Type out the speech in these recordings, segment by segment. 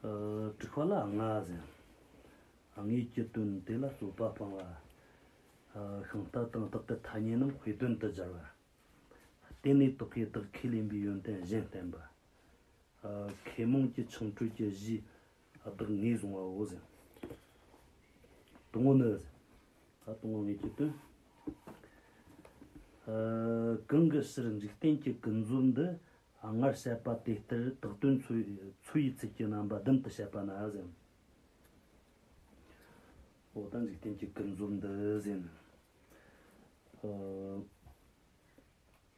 དྲེགས་པ་ལ་ང་བཟང། ངེད་ཀྱི་དོན་དེ་ལ་རྩོད་པ་སྤང་བ། ཤིང་རྟ་དང་བདག་གི་ཐ་སྙད་རྣམས་དཔེ་དོན་དུ་སྦྱར་བ། དེ་ནས་དོ་ཁས་དག་ཁས་ལེན་པའི་ཡོན་ཏན་གཞན་བསྟན་པ། མཁས་རྨོངས་ཀྱི་ཆང་བྲོད་ཀྱི་གཞི། བདག་ངས་བཟུང་བའོ། སྟོང་ངོ་ནི། སྟོང་ངོ་ངེས་ཀྱི་དོན། གང་གི་ཕྱིར་འཇིག་རྟེན་གྱི་ཀུན་རྫོབ་འདི་སྔར་བཤད་པ་དེ་ལྟར་དག་དོན་ཚུལ་ཡིས་ཚིག་གི་རྣམ་པ་བདུན་དུ་བཤད་པ་ན། འོ་ད་འཇིག་རྟེན་གྱི་ཀུན་རྫོབ་འདི།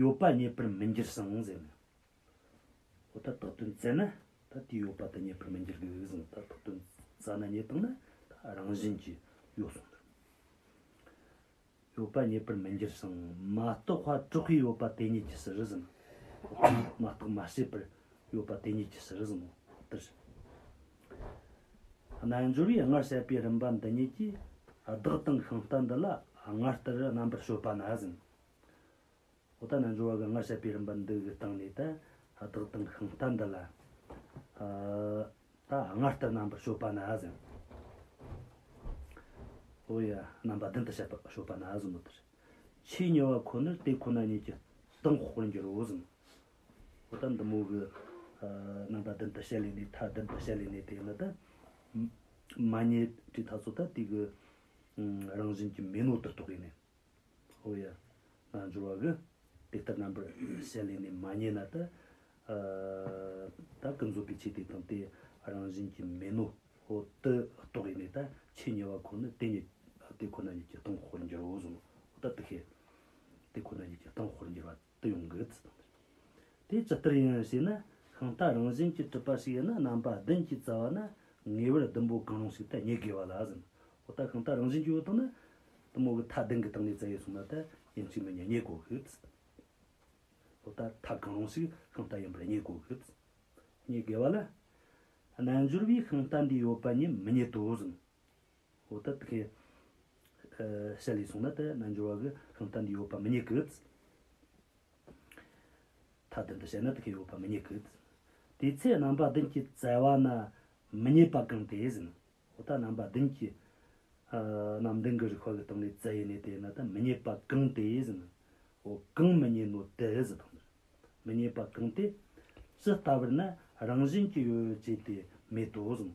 ཡོད་པ་རྙེད་པར་མི་འགྱུར་གསུང་ཟེར་ན། ཨོ་ད་དོགས་དོན་བཙལ་ན་ད་དེ་ཡོད་པ་དེ་རྙེད་པར་མི་འགྱུར་གི་གཟིགས་ཟིན་ད་དོགས་དོན་བཙལ་ན་རྙེད་སྟངས་ནི་ད་རང་བཞིན་གྱིས་ཡོད་གསུང་ཟེར། ཡོད་པ་རྙེད་པར་མི་འགྱུར་གསུང་མ་རྟོགས་བར་དྲོ་གི་ཡོད་པ་དེ་ཉིད་ཀྱི་ཟིར་ཟིན་མ་རྟོགས་མ་ཤེས་པར་ཡོད་པ་དེ་ཉིད་ཀྱི་ཟིར་ཟིན་ནོ་དེར་ཟིན། རྣལ་འབྱོར་པས་སྔར་བཤད་པའི་རིམ་པ་འདི་ཉིད་ཀྱིས་བདག་དང་ཤིང་རྟ་འདི་ལ་སྔར་ལྟར་རྣམ་པར་སྤྱོད་པ་ན་ཟིན། ཨོ་ད་ན་འབྱོར་བ་ག་ང་བཤད་པའི་རིམ་པ་འདི་གི་སྟེང་ནས་ད་བདག་དང་ཤིང་རྟ་འདི་ལ་ད་ང་ལྟར་རྣམ་པར་ཤོད་པ་ན་ཟིན། ཨོ་ཡ་རྣམ་པ་བདུན་དུ་བཤད་པར་ཤོད་པ་ན་ཟིན་མོད་དེར་ཆོས་ཉེ་བ་ཁོ་ནར་དེ་ཁོ་ན་ཉིད་ཀྱི་སྟེང་དཔོག་པར་འགྱུར་རོ་ཟིན། ཨོ་ད་འདི་མོ་གི་རྣམ་པ་བདུན་དུ་བཤད་ལས་ནི་མཐའ་བདུན་དུ་བཤད་ལས་ནི་དེ་ནི་ད་མ་ཉེས་དྲིས་ཐག་ཚོད་ད་དུས་ཀྱི་རང་བཞིན་གྱི་མེ་ནོར་དུ་རྟོགས་ཡིན། ཧོ་ཡ། རྣལ་འབྱོར་བ་གི། དེ་ལྟར་རྣམ་པར་ཞལ་ལས་ནི་མ་རྙེད་ན་ཏི། བདག་གི་འཛོད་པའི་ཆོས་དེ་དང་དེ་རང་བཞིན་གྱིས་མིན་ནོ། ཧོ། ཏི་རྟོག་གེ་ནི་ད་ཕྱིས་ཉེ་བ་ཁོ་ནི་དེ་ཉིད། དེ་ཁོ་ན་ཉིད་ཀྱི་སྟོང་ཧོར་འགྱུར་བའོ། ཧོ་ཏི་ཏི་ཧེ། དེ་ཁོ་ན་ཉིད་ཀྱི་སྟོང་ཧོར་འགྱུར་བ། དུ་ཡོང་གི་རེད། དེ་ཇི་ལྟར་ཡིན་ཞེ་ན་ཤིང་རྟ་རང་བཞིན་གྱི་གྲུབ་པ་ཞིག་ཡིན་ན་རྣམ་པ་བདུན་གྱི་རྩ་བ་ནི་ངེས་པར་ཟླུམ་པོ་གང་རུང་ཞིག་ཏུ་ངེས་དགོས་པ་ལ་ཟིན། འོ་ད་ཤིང་རྟ་རང་བཞིན་གྱི་འོག་ཏུ་ནི་གཏུམ་མོ་གི་མཐའ་བདུན་གྱི་སྟེང་ནས་རྩ་ཡིག་གསུངས་པ་དེ་ཡིན་གཅིག་མིན་གཉིས་ངེས་དགོས་གི། འོ་ད་མཐའ་གང་རུང་ཞིག་ཤིང་རྟ་ཡིན་པར་ངེས་དགོས་གི། ངེས་དགོས་པ་ལ། རྣལ་འབྱོར་པའི་ཤིང་རྟ་འདི་ཡོད་པ་ཉིད་མི་རྙེད་དོ་ཟིན། འོ་ད་དེ་གས་ཤ་ལས་སོང་ན་དེ་རྣལ་འབྱོར་བ་གི་ཤིང་རྟ་འདི་ཡོད་པ་མི་རྙེད་ཀི། མཐའ་བདུན་དུ་བཤད་ན་དེ་གས་ཡོད་པ་མི་རྙེད་ཀི། དེའི་ཚེ་རྣམ་པ་བདུན་གྱིས་བཙལ་བ་ན་མི་རྙེད་པ་གང་དེ་ཟིན་ནོ། འོ་ད་རྣམ་པ་བདུན་གྱིས་རྣམ་བདུན་གྱི་རིག་བྷ་གའི་སྟེང་ནས་བཙལ་ཡས་ནས་དེ་ན་དེ་མི་རྙེད་པ་གང་དེ་ཟིན་ནོ། འོ་གང་མི་རྙེད་ནོ་དེ་ཟིན་ཏོ། མི་རྙེད་པ་གང་དེ། ཇི་ལྟ་བུར་ན་རང་བཞིན་གྱིས་ཡོད་ཅེས་དེ་མེད་དོ་ཟིན་ནོ།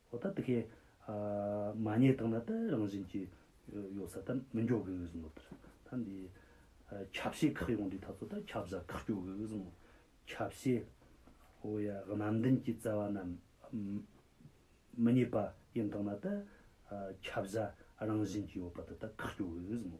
ཨོ་ད་ད་ཁའི། མ་ཉེས་དང་ན་ད་རང་བཞིན་གྱི། ཡོད་ས་ད་མི་འཇོག་གི་འོས་སམོ། ད་འདི། ཁྱབ་བྱེད་ཁག་ཡོང་དུས་ད་ཚོ་ད་ཁྱབ་བྱ་ཁག་གྱོ་གི་འོས་སམོ། ཁྱབ་བྱེད། ཨོ་ཡ་རྣམ་བདེན་གྱི་བཙལ་བ་རྣམས། མི་ཉེས་པ་ཡིན་དང་ན་ད། ཁྱབ་བྱ་རང་བཞིན་གྱི་ཡོད་པ་ད་ད་ཁག་གྱོ་གི་འོས་སམོ།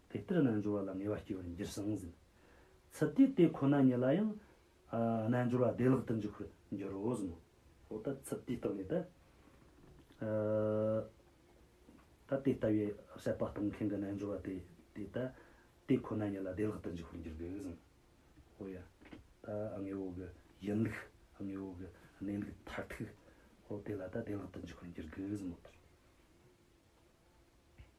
དེ་ལྟར་རྣལ་འབྱོར་བ་ལ་ངེས་པར་སྐྱེ་བར་འགྱུར་གསང་ཟིན། ཚུལ་དེས་དེ་ཁོ་ན་ཉིད་ལ་ཡང། རྣལ་འབྱོར་བ་བདེ་བླག་ཏུ་འཇུག་པར་འགྱུར་རོ་གསུངས་མོ། འོ་ད་ཚུལ་དེའི་རྟགས་ནི་ད། ད་དེ་ལྟ་བུའི་བཤད་པ་གཏོང་མཁན་གྱི་རྣལ་འབྱོར་བ་དེ་དེ་ད། དེ་ཁོ་ན་ཉིད་ལ་བདེ་བླག་ཏུ་འཇུག་པར་འགྱུར་གྱི་གསུངས་མོ། འོ་ཡ། ད་དངོས་པོ་གྱི་ཡིན་ལུགས། དངོས་པོ་གྱི་གནས་ལུགས་མཐར་ཐུག། འོ་དེ་ལ་ད་བདེ་བླག་ཏུ་འཇུག་པར་འགྱུར་གྱི་གསུངས་མོ།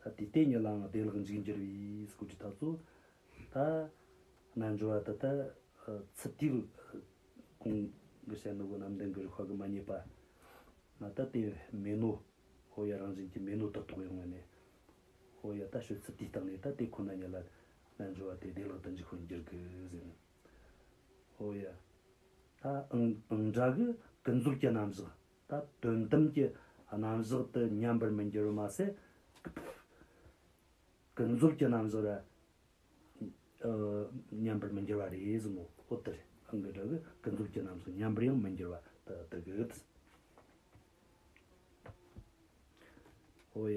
ད་དུས་དེ་ཉིད་ལའང་བདེ་བླག་འཇིགས་འགྱུར་བའི་སྐུ་དྲི་དག་ཚོ། ད་རྣལ་འབྱོར་བ་དག་ད་ཚུལ་དུས་གང་གི་ཞལ་ནུ་བོ་ནམ་ལྡན་གྱི་རུ་ཁག་གི་མ་རྙེད་པ། ང་ད་དེ་མེད་ནོ། ཨོ་ཡ་རང་བཞིན་གྱི་མེད་ནོ་དག་ཐོག་ཡོང་བ་ནས། ཨོ་ཡ་ད་ཤོད་ཚུལ་དུས་རྟག་ནས་ད་དེ་ཁོ་ན་ཉིད་ལ་རྣལ་འབྱོར་བ་དེ་བདེ་བླག་ཏུ་འཇིགས་ཤོར་འགྱུར་གྱི་ཟིན། ཨོ་ཡ། ད་ཨང་གྲགས་ཀྱི་ཀུན་རྫོབ་ཀྱི་རྣམ་གཞག་ད་དོན་དམ་གྱི་རྣམ་གཞག་ཏུ་ཉམས་པར་མི་འགྱུར་བར་མ་ཟད། ཀུན་རྫོབ་ཀྱི་རྣམ་གཞག་ལ་ཉམས་པར་མི་འགྱུར་བ་རེ་ཟུང་ངོ། འོད་དེ་རང་གི་སྒྲ་གི་ཀུན་རྫོབ་ཀྱི་རྣམ་གཞག་ཉམས་པར་ཡང་མི་འགྱུར་བ་དུ་བསྡུ་གི། འོ་ཡ།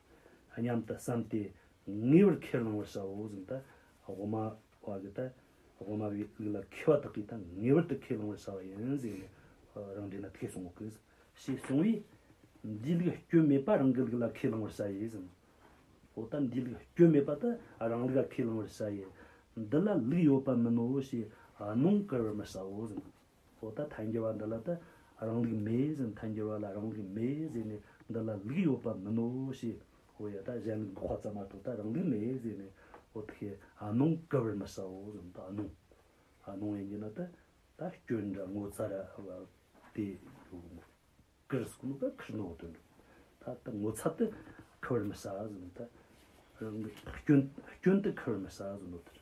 སྙམ་དུ་བསམ་སྟེ་ངེས་པར་ཁས་བླང་བར་བྱའོ་གཟིམ་ལྟ་དབུ་མ་བ་གི་ལྟ་དབུ་མ་བའི་ལུགས་ལ་མཁས་པ་དག་གིས་ད་ངེས་པར་དུ་ཁས་བླང་བར་བྱ་བ་ཡིན་ཟེར་ནས་རང་འགྲེལ་ན་དེས་གསུང་ངོ་དགོས། ཞེས་གསུང་བས། འདིའི་ལུགས་སྐྱོན་མེད་པ་རང་གི་ལུགས་ལ་ཁས་བླང་བར་བྱ་ཡི་གཟིམ། འོ་ད་འདིའི་ལུགས་སྐྱོན་མེད་པ་དེ་རང་ལུགས་ལ་ཁས་བླང་བར་བྱ་ཡི། འདི་ལ་ལུགས་ཡོད་པ་མིན་ནོ་ཞེས་གནོང་བཀུར་བར་མི་བྱའོ་གཟིམ། ཨོ་ད་མཐའ་འགྱུར་བ་འདི་ལ་ཏེ་རང་ལུགས་མེད་ཟེར་མཐའ་འགྱུར་བ་ལ་རང་ལུགས་མེད་ཟེར་ནས་འདི་ལ་ལུགས་ཡོད་པ་མིན་ནོ་ཞེས་ཨོ་ཡ་ད་གཞན་ལུགས་འདུག་ཁོ་ཙམ་མ་གཏོགས་ད་རང་ལུགས་མེད་ཟེར་ནས་ཨོ་ད་ཤེས་ཨ་ནོང་ག་བར་མི་ཟའོ་ཟེར་ནས་ད་ཨ་ནོང་ཨ་ནོང་ཡིན་གྱི་ན་ཏེ་ད་སྐྱོན་འདྲ་ངོ་ཚ་ར་བ་དེ་ཡོད་མོད། ཀིར་སྐུ་ནོ་པེ་ཁིར་ནོ་དོན་འགྲུབ་ད་ད་ངོ་ཚ་ཏེ་ག་བར་མི་ཟ་ཟེར་ནས་ད་རང་ལུགས་སྐྱོན་སྐྱོན་ཏེ་ག་བར་མི་ཟ་ཟེར་ནོ་དེར།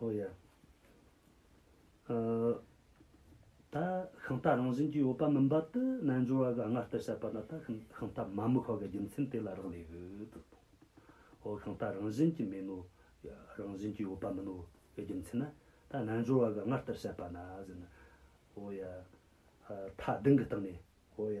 ཨོ་ཡ། ད་ཤིང་རྟ་རང་བཞིན་གྱིས་ཡོད་པ་མིན་པ་དེ་རྣལ་འབྱོར་བ་གིས་སྔར་ལྟར་བཤད་པ་ན་ད་ཤིང་རྟ་མ་མི་ཤོར་བའི་རྒྱུ་མཚན་དེ་ལ་རག་ལས་ཡོད། ཨོ་ཤིང་རྟ་རང་བཞིན་གྱིས་མིན་ནོ། རང་བཞིན་གྱིས་ཡོད་པ་མིན་ནོ་བའི་རྒྱུ་མཚན་ནི། ད་རྣལ་འབྱོར་བ་གིས་སྔར་ལྟར་བཤད་པ་ན་ཟེར་ན། ཨོ་ཡ། མཐའ་བདུན་གྱི་སྟེང་ནས། ཨོ་ཡ།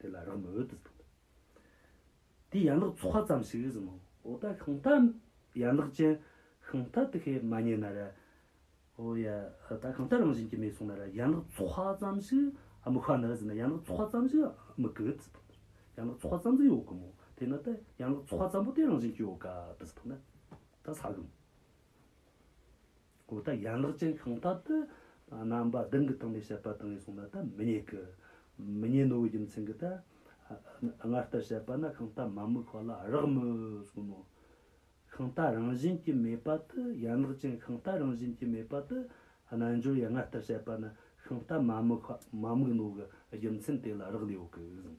དེ་ལ་རང་མོས་དུ་འདུག། དེའི་ཡན་ལག་ཚོགས་ཙམ་ཞིག་གིས་ཟིན། འོ་ད་ཤིང་རྟ་ཡན་ལག་ཅན་ཤིང་རྟ་དེ་ཁས་མ་ཉན་ན་ར། འོ་ཡ། ད་ཤིང་རྟ་རང་བཞིན་གྱིས་མེད་གསུངས་ན་ར་ཡན་ལག་ཚོགས་ཙམ་ཞིག་མི་ཁ་ན་ཟིན་ན་ཡན་ལག་ཚོགས་ཙམ་ཞིག་མི་དགོས་དུ་འདུག། ཡན་ལག་ཚོགས་ཙམ་ཙམ་ཡོད་དགོས་མོད་དེ་ན་ད་ཡན་ལག་ཚོགས་ཙམ་པོ་དེ་རང་བཞིན་གྱིས་ཡོད་དཀའ་དུ་འདུག་ན། ད་ཟ་དགོས་མོད། གོ་བརྡ་ཡན་ལག་ཅན་གང་ལྟར་དུ། རྣམ་པ་བདུན་གྱི་སྟེང་ནས་བཤད་པ་དང་ཡིན་གསུངས་ན་ད་མི་རྙེད་ཀི། མི་རྙེད་ནོ་བའི་རྒྱུ་མཚན་གྱིས་ཏེ། སྔར་ལྟར་བཤད་པ་ན་གང་ལྟར་མ་མོའི་ཁོག་ལ་རག་མོད་གསུངས་མོད། གང་ལྟར་རང་བཞིན་གྱིས་མེད་པ་དུ་ཡན་ལག་ཅན་གང་ལྟར་རང་བཞིན་གྱིས་མེད་པ་དུ། རྣལ་འབྱོར་ཡང་སྔར་ལྟར་བཤད་པ་ན་གང་ལྟར་མ་མོའི་ཁོག་མ་མིག་ནོ་གི་རྒྱུ་མཚན་དེ་ལ་རག་ལས་ཡོད་ཀི་གསུངས།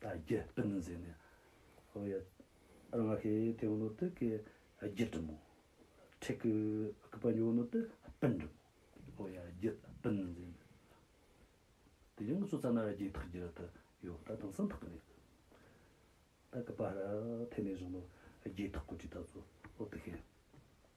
དང་རྒྱུད་སྤུན་ནི་འཛིན་ནས་ཧོ། ཡ་རངག་ཤེས་དེ་བུ་ནོ་ཏི་ཀའི་རྒྱུད་འབྲི་མོ། ཁྲེ་ཀུ་ཀི་པ་ཉོ་བུ་ནོ་ཏི་སྤུན་འབྲི་མོ། ཧོ། ཡ་རྒྱུད་སྤུན་ནི་འཛིན་ནས་ཧོ། དེ་ཡང་ཚོ་ཙ་ན་ར་རྒྱའི་ཐག་རྒྱུད་དུ་ཡོད་ད་དང་སང་ཐག་གི་ནས་ད་ཀི་པ་ར་ཐེ་ནས་བཟུང་ནོ་རྒྱའི་ཐག་གོ་ཏྲི་ད་ཚོ་ཨོ་ཏི་ཤེས།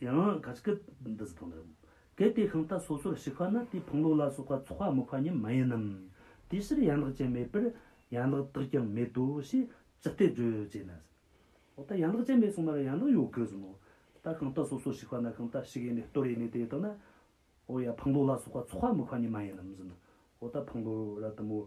ཡང་ག་ཅི་ཀི་འདི་ཟི་དང་འདྲ། གལ་ཏེ་གང་ལྟ་སོ་སོར་ཞིག་པ་ན་དེའི་ཕུང་ལུགས་ལ་སོགས་པ་ཚོགས་པ་དམིགས་པ་ཉིད་མ་ཡིན་ནམ། དེའི་ཕྱིར་ཡན་ལག་ཅན་མེད་པར་ཡན་ལག་དག་ཀྱང་མེད་དོ་ཞེས་ཅི་སྟེ་བརྗོད་ཅེ་ན། འོ་ད་ཡན་ལག་ཅན་མེད་གསུངས་པར་ཡན་ལག་ཡོད་དགོས་སམ་མོ། ད་གང་ལྟ་སོ་སོར་ཞིག་པ་ན་གང་ལྟ་ཞིག་ཡེ་ནས་སྟོར་ཡེ་ནས་དེ་དག་ན། འོ་ཡ་ཕུང་ལུགས་ལ་སོགས་པ་ཚོགས་པ་དམིགས་པ་ཉིད་མ་ཡིན་ནམ་ཟི་ན། འོ་ད་ཕུང་ལུགས་ར་དམ་མོ།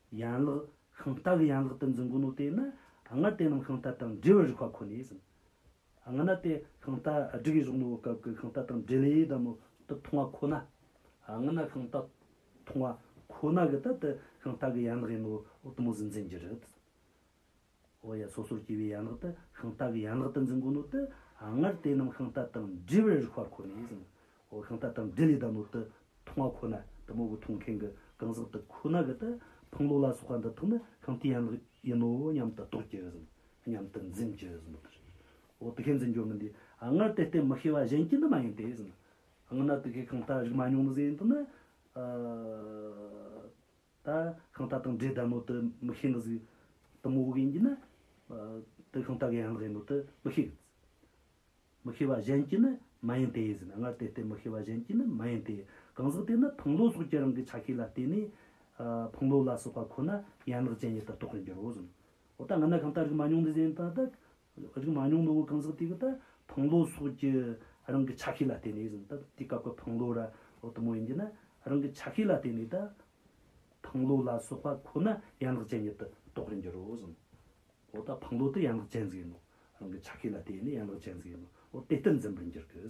ཡན་ལག། ཤིང་རྟ་གི་ཡན་ལག་ཏུ་འཛིན་དགོས་ནོ་དེས་ན། སྔར་དེ་རྣམས་ཤིང་རྟ་དང་འབྲེལ་བའི་རིགས་པ་ཁོ་ནས་ཟིན། སྔ་ན་དེ་ཤིང་རྟ་སྒྲིག་ཡས་གཞུག་ནོ་བའི་སྐབས་ཀྱི་ཤིང་རྟ་དང་འབྲེལ་ཡས་ཟླ་མོ་དུ་མཐོང་བ་ཁོ་ན། སྔ་ན་ཤིང་རྟ་མཐོང་བ་ཁོ་ན་གི་ད་དེ་ཤིང་རྟ་གི་ཡན་ལག་ཡིན་ནོ་བའི་དུ་མོ་ཟིན་འཛིན་གྱི་རིགས། ཨོ་ཡ་སོ་སོར་སྐྱེ་བའི་ཡན་ལག་དུ་ཤིང་རྟ་གི་ཡན་ལག་ཏུ་འཛིན་གོ་ནོ་ཏི་སྔར་དེ་རྣམས་ཤིང་རྟ་དང་འདྲིལ་བའི་རིགས་བར་ཁོ་ནས་ཟིན་ཨོ་ཤིང་རྟ་དང་འདྲིལ་ལས་བདག་མོ་དི་འཐུང་བ་ཁོ་ན་དི་མོ་གི་འཐུང་མཁན་གི་རྐང་ཟག་དི་ཁོ་ན་གི་དི་ཕང་ལོ་ལ་སོགས་པ་འདི་དག་ནི་ཤིང་རྟའི་ཡན་ལག་ཡིན་ནོ་སྙམ་དུ་རྟོགས་ཀྱི་ཟིན་སྙམ་དུ་འཛིན་གྱི་ཟིན་ནོ་ཏི་ཨོ་དི་ཤའི་འཛིན་སྦྱོར་མི་འདི་སྔར་དེ་བརྟེན་མི་ཤེས་པ་གཞན་གྱི་འདི་མ་ཡིན་ཏེ་ཟིན། སྔ་ན་དི་ཤའི་ཤིང་རྟ་རིག་མ་མྱོང་ནི་ཟིན་དི་ནི། ད་ཤིང་རྟ་དང་འདྲེ་ལྟ་མོ་དུ་མི་ཤེས་ནི་ཟིག། དུ་མོ་བུ་གན་གྱི་ནི། དུ་ཤིང་རྟ་གན་ཡང་ལག་ཡིན་མོ་དུ་མི་ཤེས་གི། མི་ཤེས་པ་གཞན་གྱི་ནི་མ་ཡིན་ཏེ་ཟེར་ན་སྔར་དེ་ལྟའི་མི་ཤེས་པ་གཞན་གྱི་ནི་མ་ཡིན་ཏེ། གང་ཟག་དེ་ནི་ཕུང་ལོ་སོགས་ཀྱི་རང་གི་ཆ་ཤས་ལ་བརྟེན་ནས། ཕུང་ལོ་ལ་སོགས་པ་ཁོ་ན་ཡན་ལག་ཅན་ཉིད་དུ་རྟོགས་པར་འགྱུར་རོ། འོ་ད་ང་ན་ཤིང་རྟ་རིག་མ་མྱོང་ནི་ཟེར་ན། ཨ་རིག་མ་ཉུང་ནོ་བོ་གང་ཟག་དེ་གི་ད་བང་ལོ་སོགས་ཀྱི་རང་གི་ཆ་ཤས་ལ་བརྟེན་ནས་ཟིན་ད་དེ་སྐབས་ཀྱི་བང་ལོ་ར་ལོ་དུ་མོ་ཡིན་གྱི་ན་རང་གི་ཆ་ཤས་ལ་བརྟེན་ནས་ད་བང་ལོ་ལ་སོགས་པ་ཁོ་ན་ཡན་ལག་ཅན་ཉིད་དུ་རྟོགས་རིན་འགྱུར་རོ་ཟིན། འོ་ད་བང་ལོ་དེ་ཡན་ལག་ཅན་ཟིག་ཡིན་ནོ་རང་གི་ཆ་ཤས་ལ་བརྟེན་ནས་ཡན་ལག་ཅན་ཟིག་ཡིན་ནོ་འོ་དེ་ལྟར་འཛིན་པར་འགྱུར་གྱི།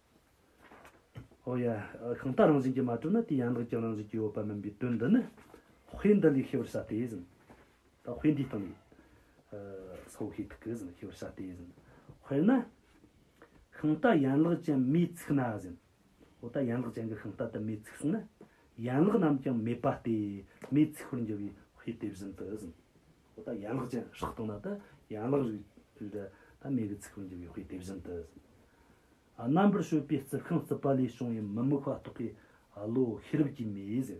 ཨོ་ཡ། གང་དག་རང་བཞིན་གྱིས་མ་གྲུབ་ན་དེ་ཡན་ལག་ཀྱང་རང་བཞིན་གྱིས་ཡོད་པ་མིན་པའི་དོན་འདི་ནི། དཔེ་འདི་ལས་ཤེས་པར་བྱ་སྟེ། དཔེ་འདིའི་སྟེང་ནས། ས་བོ་ཧེ་ཐིག་གིས་ཤེས་པར་བྱ་སྟེ། དཔེར་ན། ཤིང་རྟ་ཡན་ལག་ཅན་མེས་ཚིག་ན། འོ་ད་ཡན་ལག་ཅན་གྱི་ཤིང་རྟ་དུ་མས་ཚིག་ཟིན་ན། ཡན་ལག་རྣམས་ཀྱང་མེད་པ་སྟེ། མེས་ཚིག་པར་འགྱུར་བའི་དཔེ་དེ་བཞིན་དུ། ད་ལྟ་ཡན་ལག་ཅན་ཧྲག་བཏང་ན་དེ་ཡན་ལག་རིགས་དུས་འདི་ད་མེ་གི་ཚིག་རང་རྒྱབ་ཡོད་ཀི་དེ་བཞིན་དུ། རྣམ་པར་ཤོད་པའི་རྩི་ཤིང་རྩི་པ་ལས་བྱུང་བའི་མི་དམིགས་པ་རྟོགས་པའི་བློ་ཤེས་རབ་ཀྱིས་མེ་ཟད།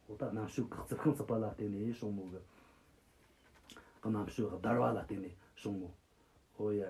ད་ལྟ་རྣམ་ཤོད་ཀྱི་རྩི་ཤིང་རྩི་པ་ལ་བརྟེན་ནས་བྱུང་མོད་ཀྱི། རྣམ་ཤོད་བརྡར་བ་ལ་བརྟེན་ནས་བྱུང་མོད་ཀྱི།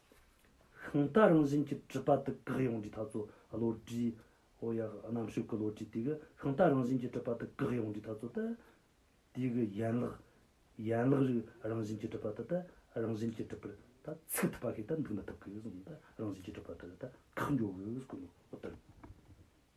ཤིང་རྟ་རང་བཞིན་གྱི་གྲུབ་པ་དུ་བཀག་ཡོངས་འབྲིའི་ཐ་ཚོ་བློ་གྲོས། ཨོ་ཡ། རྣམ་ཤེས་ཀྱི་བློ་གྲོས་དེ་གི་ཤིང་རྟ་རང་བཞིན་གྱི་གྲུབ་པ་དུ་བཀག་ཡོངས་འབྲིའི་ཐ་ཚོ་སྟེ། དེ་གི་ཡན་ལག། ཡན་ལག་རིགས་རང་བཞིན་གྱི་གྲུབ་པ་དུ་སྟེ་རང་བཞིན་གྱི་གྲུབ་པར་ད་ཚིག་ཐུབ་པ་ཞིག་ད་འདུག་མི་ཐུབ་གི་གཟུགས་ནི་ད་རང་བཞིན་གྱི་གྲུབ་པ་དུ་ད་བཀག་འགྱུར་བའི་གཟུགས་ནོ།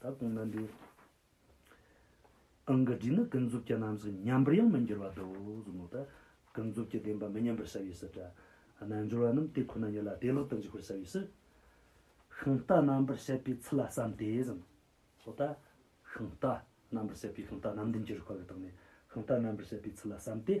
ད་དུང་ན་འདི། ཨང་ཀི་འབྲི་ནི་ཀུན་རྫོབ་ཀྱི་རྣམ་གཟིགས་མཉམ་པར་ཡང་མི་འགྱུར་བར་དུ་གཟུགས་མོ་དང། ཀུན་རྫོབ་ཀྱི་བདེན་པ་མི་མཉམ་པར་བྱ་བའི་སུ། དྲི་རྣལ་འབྱོར་བ་རྣམས་དེ་ཁོ་ན་ཉིད་ལ་བདེ་བླག་ཏུ་འཇུག་པར་བྱ་བའི་སུ། ཤིང་རྟ་རྣམ་པར་བཤད་པའི་ཚུལ་ལ་བསམ་སྟེ་གཟིམས། ལྷོ་ད། ཤིང་རྟ་རྣམ་པར་བཤད་པའི་ཤིང་རྟ་རྣམས་འདུན་གྱི་རིགས་པ་ལ་བརྟགས་ནས་ཤིང་རྟ་རྣམ་པར་བཤད་པའི་ཚུལ་ལ་བསམ་སྟེ།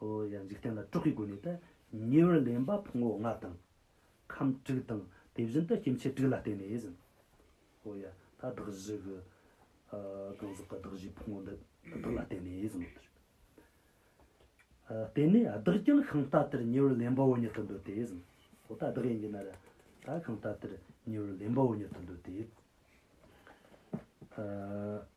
ཨོ་ཡ་འཇིག་རྟེན་ལ་དཀྲོག་གི་སྒོ་ནས་ཏེ། ཉེ་བར་ལེན་པ་ཕུང་བོ་ལྔ་དང། ཁམས་དྲུག་དང་དེ་བཞིན་དུ་སྐྱེ་མཆེད་དྲུག་ལ་བརྟེན་ནས་ཟིན། ཨོ་ཡ། ད་བདག་བཞི་གི། གང་ཟག་གི་བདག་བཞིའི་ཕུང་བོ་འདི་དག་ལ་བརྟེན་ནས་ཟིན་ནོ། དེ་ནས་བདག་ཀྱང་གང་ལྟ་དེར་ཉེ་བར་ལེན་པའོ་ཉིད་དུ་འདོད་དེ་ཟིན། ཨོ་ད་བདག་ཡིན་གྱི་ན་རེ། ད་གང་ལྟ་དེར་ཉེ་བར་ལེན་པའོ་ཉིད་དུ་འདོད་དེ།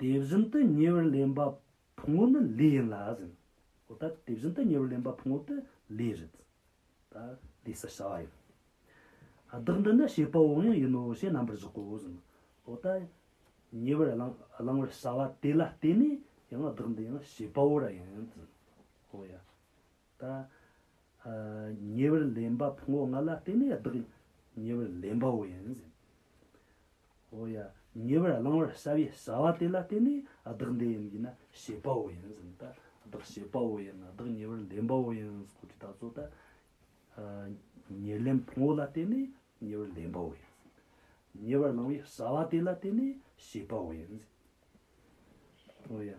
དེ་བཞིན་དུ་ཉེ་བར་ལེན་པ་ཕུང་བོ་ནི་ལུས་ཡིན་ལ་ཟིན། འོ་ད་དེ་བཞིན་དུ་ཉེ་བར་ལེན་པ་ཕུང་བོ་དེ་ལུས་རེད། ད་ལུས་སུ་བྱ་བ་ཡིན། བདག་འདི་ནི་བྱེད་པོ་འོང་ཡང་ཡིན་ནོ་ཞེས་རྣམ་པར་གཞག་གོ་ཟིན། འོ་ད་ཉེ་བར་བླང་བར་བྱ་བ་དེ་ལ་བརྟེན་ནས་ཡང་བདག་འདི་ཡང་བྱེད་པོ་ར་ཡིན། འོ་ཡ། ད་ཉེ་བར་ལེན་པ་ཕུང་བོ་ལྔ་ལ་བརྟེན་ནས་བདག་ཉེ་བར་ལེན་པའོ་ཡང་ཟིན། ཧོ་ཡ། ཉེ་བར་བླང་བར་བྱ་བའི་བྱ་བ་དེ་ལ་བརྟེན་ནས་བདག་འདི་ཡིན་གྱི་ན་བྱེད་པའོ་ཡང་ཟིན། ད་བདག་བྱེད་པའོ་ཡང་ན་བདག་ཉེ་བར་ལེན་པའོ་ཡང་ཟིན་སྐོར་གྱི་བརྡ་གཙོ་ལྟར། ཉེར་ལེན་ཕུང་བོ་ལ་བརྟེན་ནས་ཉེ་བར་ལེན་པའོ་ཡང་ཟིན། ཉེ་བར་བླང་བའི་བྱ་བ་དེ་ལ་བརྟེན་ནས་བྱེད་པའོ་ཡང་ཟིན། ཧོ་ཡ།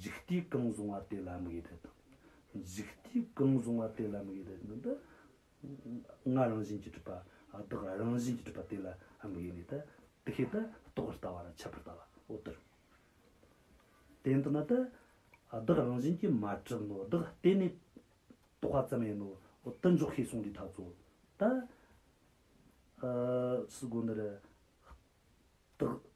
འཇིག་རྟེན་གང་བཟུང་བ་དེ་ལ་མི་དགེ་དེ་དང། འཇིག་རྟེན་གང་བཟུང་བ་དེ་ལ་མི་དགེ་དེ་ནི། ལྔ་རང་བཞིན་གྱི་སྒྲིབ་པ། བདག་རང་བཞིན་གྱི་སྒྲིབ་པ་དེ་ལ་མི་དགེ་ནས། དེ་སྐད་དུ་རྟོག་པར་ལྟ་བ་ལ་ཁྱབ་པར་ལྟ་བའོ། དེར་བརྟེན་དུ་ན། བདག་རང་བཞིན་གྱིས་མ་བསྒྲིབས་ནོ། བདག་བརྟེན་ནས་རྟོག་པ་ཙམ་ཡིན་ནོ། དུ་འཇོག་ཤེས་གསུངས་འདི་དག་གཙོ། ད། སྒོ་འདིར། བདག།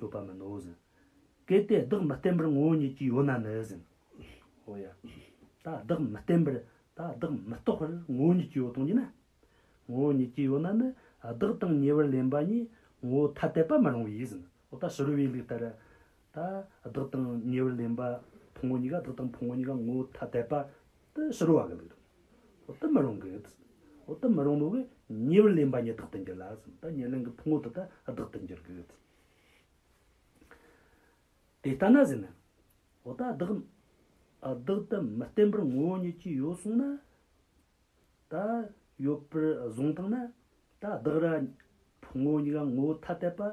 ཡོད་པ་མིན་ནོ་ཟིན། གལ་ཏེ་བདག་མི་བརྟན་པར་ངོ་བོ་ཉིད་ཀྱིས་ཡོད་ན་ནི་ཟིན། འོ་ཡ། ད་བདག་མི་བརྟན་པར་ད་བདག་མི་རྟོག་པར་ངོ་བོ་ཉིད་ཀྱིས་ཡོད་དོ་སྙམ་ན། ངོ་བོ་ཉིད་ཀྱིས་ཡོད་ན་ནི་བདག་དང་ཉེ་བར་ལེན་པ་གཉིས་ངོ་བོ་ཐ་དད་པ་མི་རུང་བས་ཟིན། འོ་ད་ཕྱི་རོལ་བའི་ལུགས་ལྟར་ད། བདག་དང་ཉེ་བར་ལེན་པ། ཕུང་བོ་གཉིས་ཀ་བདག་དང་ཕུང་བོ་གཉིས་ཀ་ངོ་ཐ་དད་པ། དེ་ཕྱི་རོལ་བ་གང་གིས་རུང། དེ་མི་རུང་གི། དེ་མི་རུང་མོད་ཀྱི། ཉེ་བར་ལེན་པ་ཉིད་བདག་ཏུ་འགྱུར་ལ། དེ་ཉེར་ལེན་གྱི་ཕུང་བོ་དེ་དག་བདག་ཏུ་འགྱུར་གྱི། དེ་ལྟ་ན་ཟེར་ན། བདག། བདག་དེ་མི་བརྟེན་པར་ངོ་བོ་ཉིད་ཀྱིས་ཡོད་གསུངས་ན། ད། ཡོད་པར་བཟུང་སྟངས་ན། ད་བདག་ར། ཕུང་བོ་གཉིས་ཀ་ངོ་ཐ་དད་པ།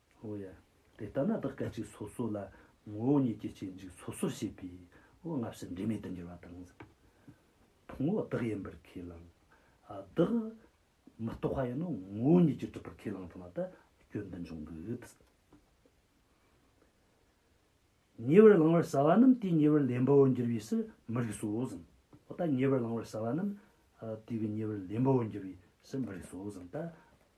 ཨོ་ཡ། དེ་ལྟ་ན་བདག་སྐད་ཅིག་སོ་སོ་ལ་ངོ་བོ་ཉིད་ཀྱི་སྐྱེ་འཇིག་སོ་སོར་ཤེས་པས་འོད་ལྔ་བཞི་འབྲས་མེད་དུ་འགྱུར་བ་དང། ཕུང་བོ་བདག་ཡིན་པར་ཁས་བླངས། བདག། མི་རྟོག་པ་ཡིན་ནོ་ངོ་བོ་ཉིད་ཀྱིས་གྲུབ་པར་ཁས་བླངས་ཙམ་ལ་ད་སྐྱོན་འདི་འབྱུང་གི། ཉེ་བར་བླང་བར་བྱ་བ་རྣམས་དེའི་ཉེ་བར་ལེན་པའོ་འགྱུར་བའི་ཕྱིར་མི་རིགས་སོ་ཟིན། ད་ཉེ་བར་བླང་བར་བྱ་བ་རྣམས། དེའི་ཉེ་བར་ལེན་པའོ་འགྱུར་བའི་ཕྱིར་མི་རིགས་སོ་ཟིན། ད་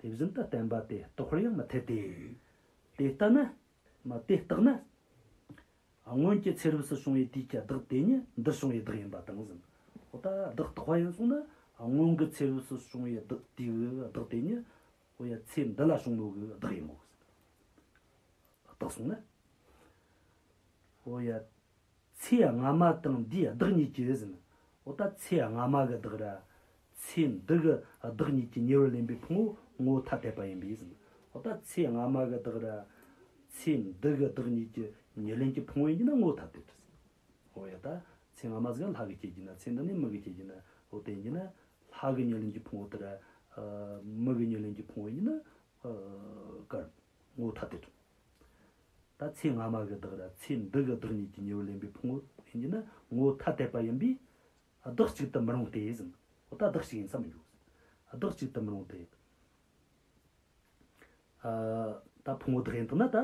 དེ་བཞིན་དུ་བསྟན་པ་དེ་རྟོགས་པར་ཡང་མི་འཐད་དེ། དེ་ལྟ་ན། དེ་བརྟགས་ན། སྔོན་གྱི་ཚེ་རབས་སུ་བྱུང་བའི་དུས་ཀྱི་བདག་དེ་ཉིད་འདིར་བྱུང་བའི་བདག་ཡིན་པ་དང་བཞིན་དུ། བདག་རྟོགས་པ་ཡང་གསུངས་ན། སྔོན་གྱི་ཚེ་རབས་སུ་བྱུང་བའི་བདག་དེའི་བདག་དེ་ཉིད། ཚེ་འདི་ལ་བྱུང་བའི་བདག་ཡིན་ནོ། བརྟགས་གསུངས་ན། ཚེ་སྔ་མ་དང་འདིའི་བདག་ཉིད་ཀྱི་རེ་ཟིན། འོ་ད་ཚེ་སྔ་མ་གི་བདག་ར། ཚེ་འདི་གི་བདག་ཉིད་ཀྱི་ཉེ་བར་ལེན་པའི་ཕུང་བོ་ངོ་ཐ་དད་པ་ཡིན་པས་ཟིན། འོ་ད་ཚེ་སྔ་མ་གི་བདག་ར། ཚེ་འདི་གི་བདག་ཉིད་ཀྱི་ཉེར་ལེན་གྱི་ཕུང་བོ་ཡིན་གྱི་ན་ངོ་ཐ་དད་དུ་ཟིན། འོ་ཡ་ད་ཚེ་སྔ་མ་ཟིག་ལྷ་གི་སྐྱེས་ཀྱི་ན་ཚེ་འདི་ནི་མི་གི་སྐྱེས་ཀྱི་ན་འོ་དེ་ཡིན་གྱི་ན་ལྷ་གི་ཉེར་ལེན་གྱི་ཕུང་བོ་དེ་ར། མི་གི་ཉེར་ལེན་གྱི་ཕུང་བོ་ཡིན་གྱི་ན། དཀར། ངོ་ཐ་དད། ད་ཚེ་སྔ་མ་གི་བདག་ར་ཚེ་འདི་གི་བདག་ཉིད་ཀྱི་ཉེ་བར་ལེན་པའི་ཕུང་བོ་ཡིན་གྱི་ནི་ངོ་ཐ་དད་པ་ཡིན་པས་བདག་གཅིག་ཏུ་མི་རུང་སྟེ་ཟིན་ཨོ་ད་བདག་གཅིག་ཡིན་ས་མི་འགྱུར། བདག་གཅིག་ཏུ་མི་རུང་སྟེ། ད་ཕུང་བོ་བདག་ཡིན་དུ་ན་ད་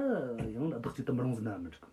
ཡང་བདག་གཅིག་ཏུ་མི་རུང་ཟིན་ན་མི་འགྲིག་གོ།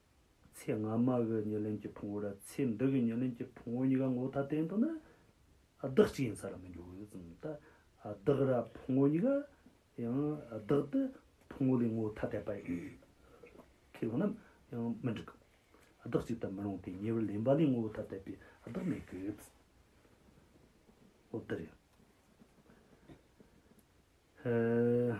ཚེ་སྔ་མ་གི་ཉེར་ལེན་གྱི་ཕུང་བོ་དང་ཚེ་འདི་གི་ཉེར་ལེན་གྱི་ཕུང་བོ་གཉིས་ཀ་ངོ་ཐ་དད་འདུག་ན། བདག་གཅིག་ཡིན་ས་ར་མི་འགྱུར་གོ་ཟེར་ཙམ་ལྟ། བདག་ར་ཕུང་བོ་གཉིས་ཀ་ཡང་བདག་ཏུ་ཕུང་བོ་ལས་ངོ་ཐ་དད་པ་ཡིན། ཁས་བླངས་ན་ཡང་མི་འགྲིག་གོ། བདག་གཅིག་ལྟར་མི་རུང་སྟེ་ཉེ་བར་ལེན་པ་ལས་ངོ་ཐ་དད་པའི་བདག་མེད་གི། འོ་འདི་རེད། ཧཧཧ་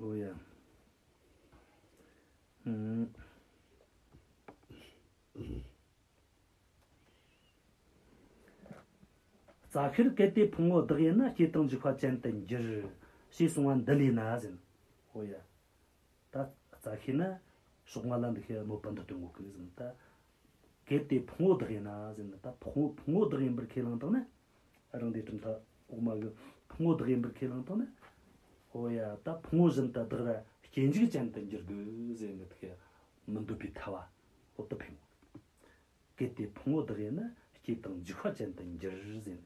ཨོ་ཡ། རྩ་ཤེར་གལ་ཏེ་ཕུང་བོ་བདག་ཡིན་ན་སྐྱེ་དང་འཇིག་པ་ཅན་དུ་འགྱུར། ཞེས་གསུང་བ་འདི་ལས་ན་ཟིན། ཨོ་ཡ། ད་རྩ་ཤེས་ན་ཕྱོགས་མ་ལ་འདུག་ཤེས་གནོད་པ་འདི་དོན་གོ་གི་ཟིན་ན་ད། གལ་ཏེ་ཕུང་བོ་བདག་ཡིན་ན་ཟིན་ན་ད་ཕུང་བོ་བདག་ཡིན་པར་ཁས་བླངས་དང་ན། རང་སྡེ་གྲུབ་མཐའ་འོག་མ་གི་ཕུང་བོ་བདག་ཡིན་པར་ཁས་བླངས་དང་ན། འོ་ཡ་ད་ཕུང་བོ་བཞིན་དུ་བདག་ར་སྐྱེ་འཇིག་ཅན་དུ་འགྱུར་དགོས་ཟེར་ནས་དེ་མི་འདོད་པའི་ཐལ་བ་འོག་ཏུ་ཕེབས་ངོ། གལ་ཏེ་ཕུང་བོ་བདག་ཡིན་ན་སྐྱེ་དང་འཇིག་བ་ཅན་དུ་འགྱུར་ཟེར་ནས།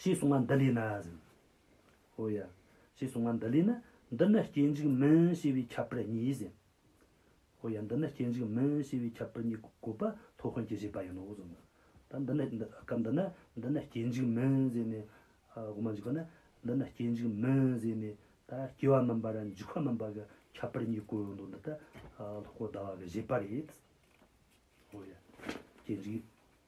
ཞེས་གསུངས་པ་འདི་ལས་ན། ཧོ་ཡ། ཞེས་གསུངས་པ་འདི་ལས་ན། འདི་ནི་སྐྱེ་འཇིག་མིན་ཤེས་པའི་ཁྱབ་པར་གཉིས་ཟེར། ཧོ་ཡ། འདི་ནི་སྐྱེ་འཇིག་མིན་ཤེས་པའི་ཁྱབ་པར་གཉིས་བཀོད་པ་ཐོ་དཔོན་གྱིས་བཞེད་པ་ཡིན་ནོ་ཟེར། ད་འདི་ནི། སྐབས་འདི་ན་འདི་ནི་སྐྱེ་འཇིག་མིན་ཟེར་ནས། དབུ་མ་འཇུག་པ་ན་འདི་ནི་སྐྱེ་འཇིག་མིན་ཟེར་ནས། ད་སྐྱེ་བ་མིན་པར་འཇིག་པ་མིན་པར་གྱི་ཁྱབ་པར་གཉིས་བཀོད་འདུག་འདི་ལྟར་ལྷོ་སྐོར་ཟླ་བ་གིས་བཞེད་པ་རེད། ཧོ་ཡ། སྐྱེ་འཇིག།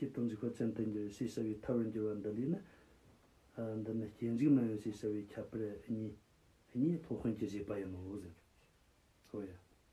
ཀྱི་དམ་ཚིག་ཁོ་ཅན་དུ་འགྱུར་ཞེས་བྱ་བའི་ཐབས་རང་གྱུར་བ་འདི་ལས་ནི། འདི་ནི་སྐྱེ་འཇིག་མ་ཡིན་ཞེས་བྱ་བའི་ཁྱབ་པར་གཉིས། གཉིས་ཐོག་ཧོན་གྱིས་བཞེད་པ་ཡིན་ནོ།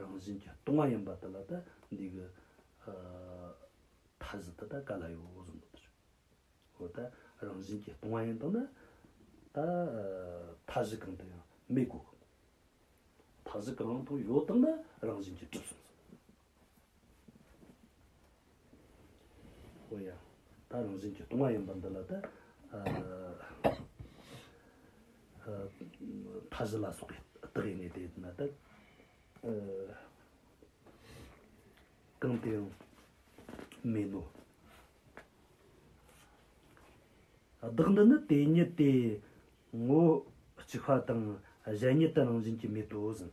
རང་བཞིན་གྱི་ལྟུང་བ་ཡིན་པ་དེ་ལ་དང་འདི་གི་ཐ་ཟི་དེ་དང་ག་ལ་ཡོད་བོ་གསུངས་པ་དང་འོ་ད་རང་བཞིན་གྱི་ལྟུང་བ་ཡིན་དང་ན་ད་ཐ་ཟི་གང་དུ་ཡང་མི་གོ་གི། ཐ་ཟི་གང་དུ་ཡོད་དང་ན་རང་བཞིན་གྱི་གྲུབ་གསུངས་སོ། ཨོ་ཡ། ད་རང་བཞིན་གྱི་སྟོང་བ་ཡིན་པ་འདི་ལ་ད། མཐའ་བཞི་ལ་སོགས་པའི་རྟགས་ཡིན་ངེས་ཏེ། ན་ད། གང་དེ་ཡང། མིན་ནོ། བདག་འདི་ནི་དེ་ཉིད་དེ། ངོ། གཅིག་པ་དང་གཞན་ཉིད་དུ་རང་བཞིན་གྱིས་མེད་དོ་ཟིན།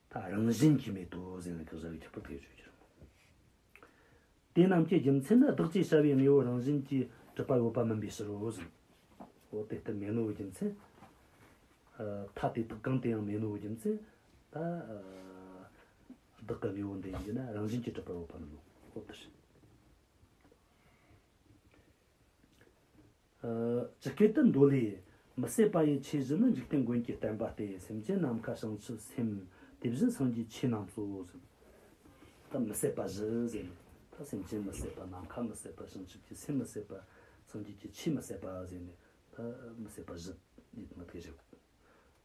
ཐ་རང་བཞིན་གྱིས་མེད་དོ་ཟེར་ན་གང་ཟག་གི་ཁྱབ་པ་བས་ཆོས་ཀྱི་རང་ངོ། དེ་རྣམས་ཀྱི་རྒྱུ་མཚན་ནི་བདག་ཅེས་བྱ་བའི་དངོས་པོ་རང་བཞིན་གྱིས་གྲུབ་པ་ཡོད་པ་མིན་པའི་ཕྱིར་རོ་ཟེར་རོ། དེ་ལྟར་མེད་ནོ་བའི་རྒྱུ་མཚན། ཐ་དེ་དག་གང་དེ་ཡང་མེད་ནོ་བའི་རྒྱུ་མཚན། ད་བདག་གི་དངོས་པོ་འདི་ཡིན་གྱི་ན་རང་བཞིན་གྱིས་གྲུབ་པ་ཡོད་པ་མིན་ནོ། ཇི་སྐད་དུ་མདོ་ལས། མི་ཟད་པ་ཡི་ཆོས་བཞི་ནི་འཇིག་རྟེན་མགོན་གྱི་བསྟན་པ་སྟེ་སེམས་ཅན་ནམ་མཁའ་བྱང་ཆུབ་སེམས། དེ་བཞིན་སངས་རྒྱས་ཆོས་རྣམས་སོ། ཟད་མི་ཟད་པ་བཞི་ཟེར། ད་སེམས་ཅན་མི་ཟད་པ་ནམ་མཁའ་མི་ཟད་པ་བྱང་ཆུབ་ཀྱི་སེམས་མི་ཟད་པ། སངས་རྒྱས་ཀྱི་ཆོས་མི་ཟད་པ་ཟེར་ནས། ད་མི་ཟད་པ་བཞི་ཡིད་མི་བདེ་རེད།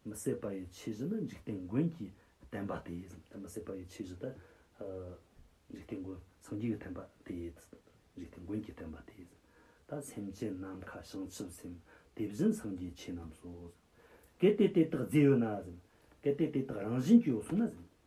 མི་བསད་པ་ཡི་ཆོས་བཞི་ནི་འཇིག་རྟེན་མགོན་གྱིས་བསྟན་པ་སྟེ། མི་བསད་པ་ཡི་ཆོས་བཞི་དེ། འཇིག་རྟེན་མགོན་སངས་རྒྱས་ཀྱིས་བསྟན་པ་སྟེ། འཇིག་རྟེན་མགོན་གྱིས་བསྟན་པ་སྟེ། ད་སེམས་ཅན་ནམ་མཁའ་བྱང་ཆུབ་སེམས་དེ་བཞིན་སངས་རྒྱས་ཆོས་རྣམས་སོ། གལ་ཏེ་དེ་དག་རྫས་ཡོད་ན། གལ་ཏེ་དེ་དག་རང་བཞིན་གྱིས་ཡོད་སོང་ན།